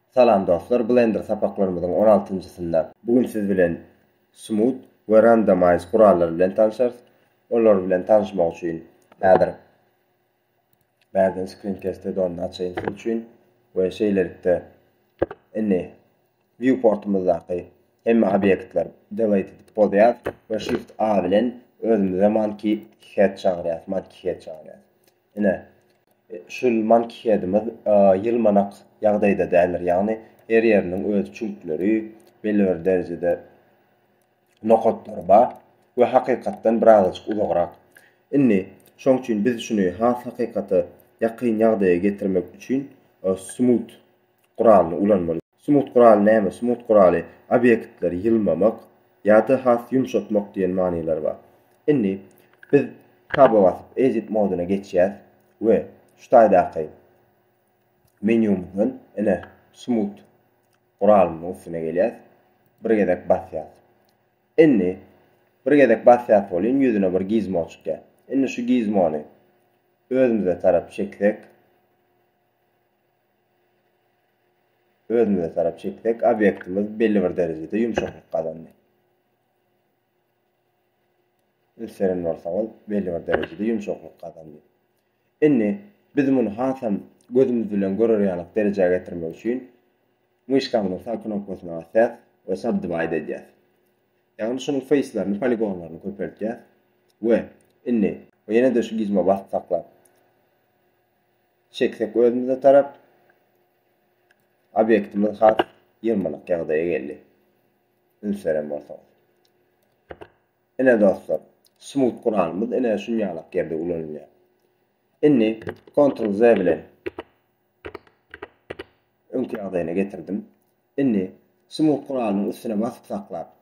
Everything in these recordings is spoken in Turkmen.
Salam dostlar Blender sapaklarymyzyň on altynjysynda bu gün siz bilen Smooth we Randomize gurallary bilen tanşarys. Olar bilen tanşmak üçin häzir bärden Screencast add-onyny açaýyn siz üçin we şeýlelikde indi Viewportymyzdaky hemme obýektler Delete edip bozýas we Shift A bilen özümize Monkey Head çagyrýas, Monkey Head çagyrýas. Ine, şul Monkeyheadimiz ýylmanak ýagdaýda däldir, ýagny her ýeriniň öz çüňkleri, belbir derejede nokatlary bar we hakykatdan birazajyk uzagrak. Indi, şoň üçin biz şuny has hakykata ýakyn ýagdaýa getirmek üçin Smooth guralyny ulanmaly. Smut guraly näme? Smut guraly, obýektleri ýylmamak ýa-da has ýumşatmak diýen manylary bar. Indi biz Taba basyp, Edit modyna geçýäs we şu taýdaky menýumyzdan, ine, Smut guralymyzyň üstüne gelýäs. Bir gezek basýas. Indi bir gezek basýas welin, ýüzüne bir gizmo çykýar. Indi şu gizmony özümize tarap çeksek. Özümize tarap çeksek, obýektimiz belli bir derejede ýumşaklyk gazandy. Üns beren bolsaňyz, belli bir derejede ýumşaklyk gazandy. Indi biz muny hasam gözümiz bilen görer ýaly derejä getirmek üçin myşkamyzyň sag knopkasyna basýas we subdivide edýäs. Ýagny şunuň feýslerini, poligonlaryny köpeltýäs we indi ýene-de şu gizme basyp saklap Çeksek özümize tarap obýektimiz has ýyrmanak ýagdaýa geldi. Üns beren bolsaňyz. Ine dostlar, smooth guralymyz ine şunýalak ýerde ulanylýar. Indi Ctrl Z bilen öňki ýagdaýyna getirdim. Indi smooth guralynyň üstüne basyp saklap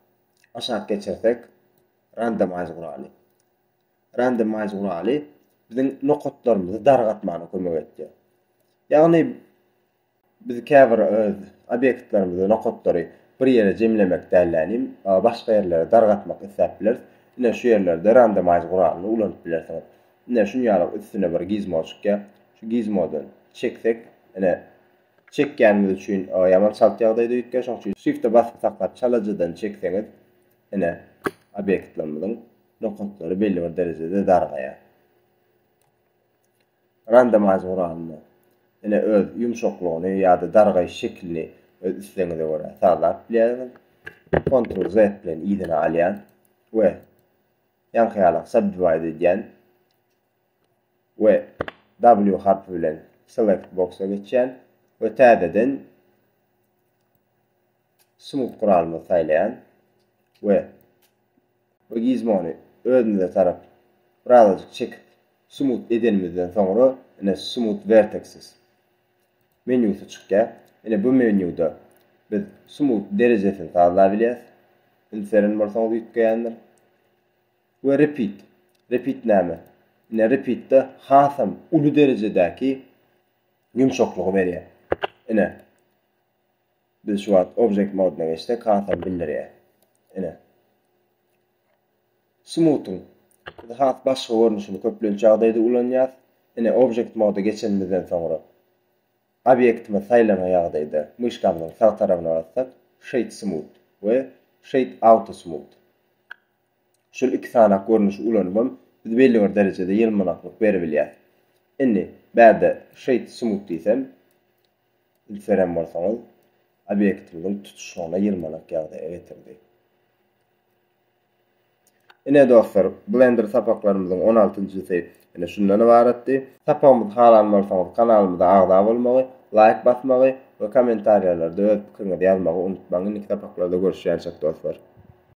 aşak geçirsek randomize guraly. Randomize guraly biziň nokatlarymyzy dargatmana kömek etýär. Ýagny biz käbir obýektlerimizi, nokatlary bir ýere jemlemek dällänim, başga ýerlere dargatmak isläp bileris. Ine şu ýerlerde randomize guralyny ulanyp bilersiňiz. Ine şuny alyň üstüne bir gizmo çykýar. Şu gizmodan çeksek, ine çekýänimiz üçin ýaman çalt ýagdaýda üýtgär. Şoň üçin Shift-e basyp saklap çalajadan çekseňiz, ine obýektlerimiziň nokatlary belli bir derejede dargaýar. Randomize guralynda ine öz ýumşaklygyny ýa-da dargaýyş şekilini öz islegiňize görä sazlap bilýärsiňiz. Ctrl Z bilen yzyna alýan we ýaňky ýaly subdivide edýän we W harpy bilen select boxa geçýän we täzeden Smooth guralymyzy saýlaýan we bu gizmony özümize tarap birazajyk çekip smooth edenimizden soňra ine smooth vertexes menýusy çykýar. Ine bu menýuda biz smooth derejesini sazlabilýäs. Indi seren bolsaňyz üýtgeýändir. We repeat. Repeat näme? Ine repeatde hasam uly derejedäki ýumşaklygy berýär. Ine. Biz şu wagt Object modyna geçsek hasam bildirýär. Ine. Smooth'yň biz has başga görnüşini köplenç ýagdaýda ulanýarys. Ine Object moda geçenimizden soňra obýektimiz saýlanan ýagdaýda myşkamyzyň sag tarabyna bassak Shade Smooth we Shade Auto Smooth. Şul iki sanak görnüşi ulanybam biz belli bir derejede ýylmanaklyk beribilýär. Indi bärde Shade Smooth diýsem. Bilserem bolsaňyz, obýektimiziň tutuşlygyna ýylmanak ýagdaýa getirdi. Ine, dostlar, Blender sapaklarymyzyň on altynjysy ine şundan ybaratdy. Sapagymyzy halan bolsaňyz, kanalymyza agza bolmagy, laýk basmagy we kommentariýalarda öz pikiriňizi ýazmagy unutmaň. Indiki sapaklarda görüşýänçek, dostlar!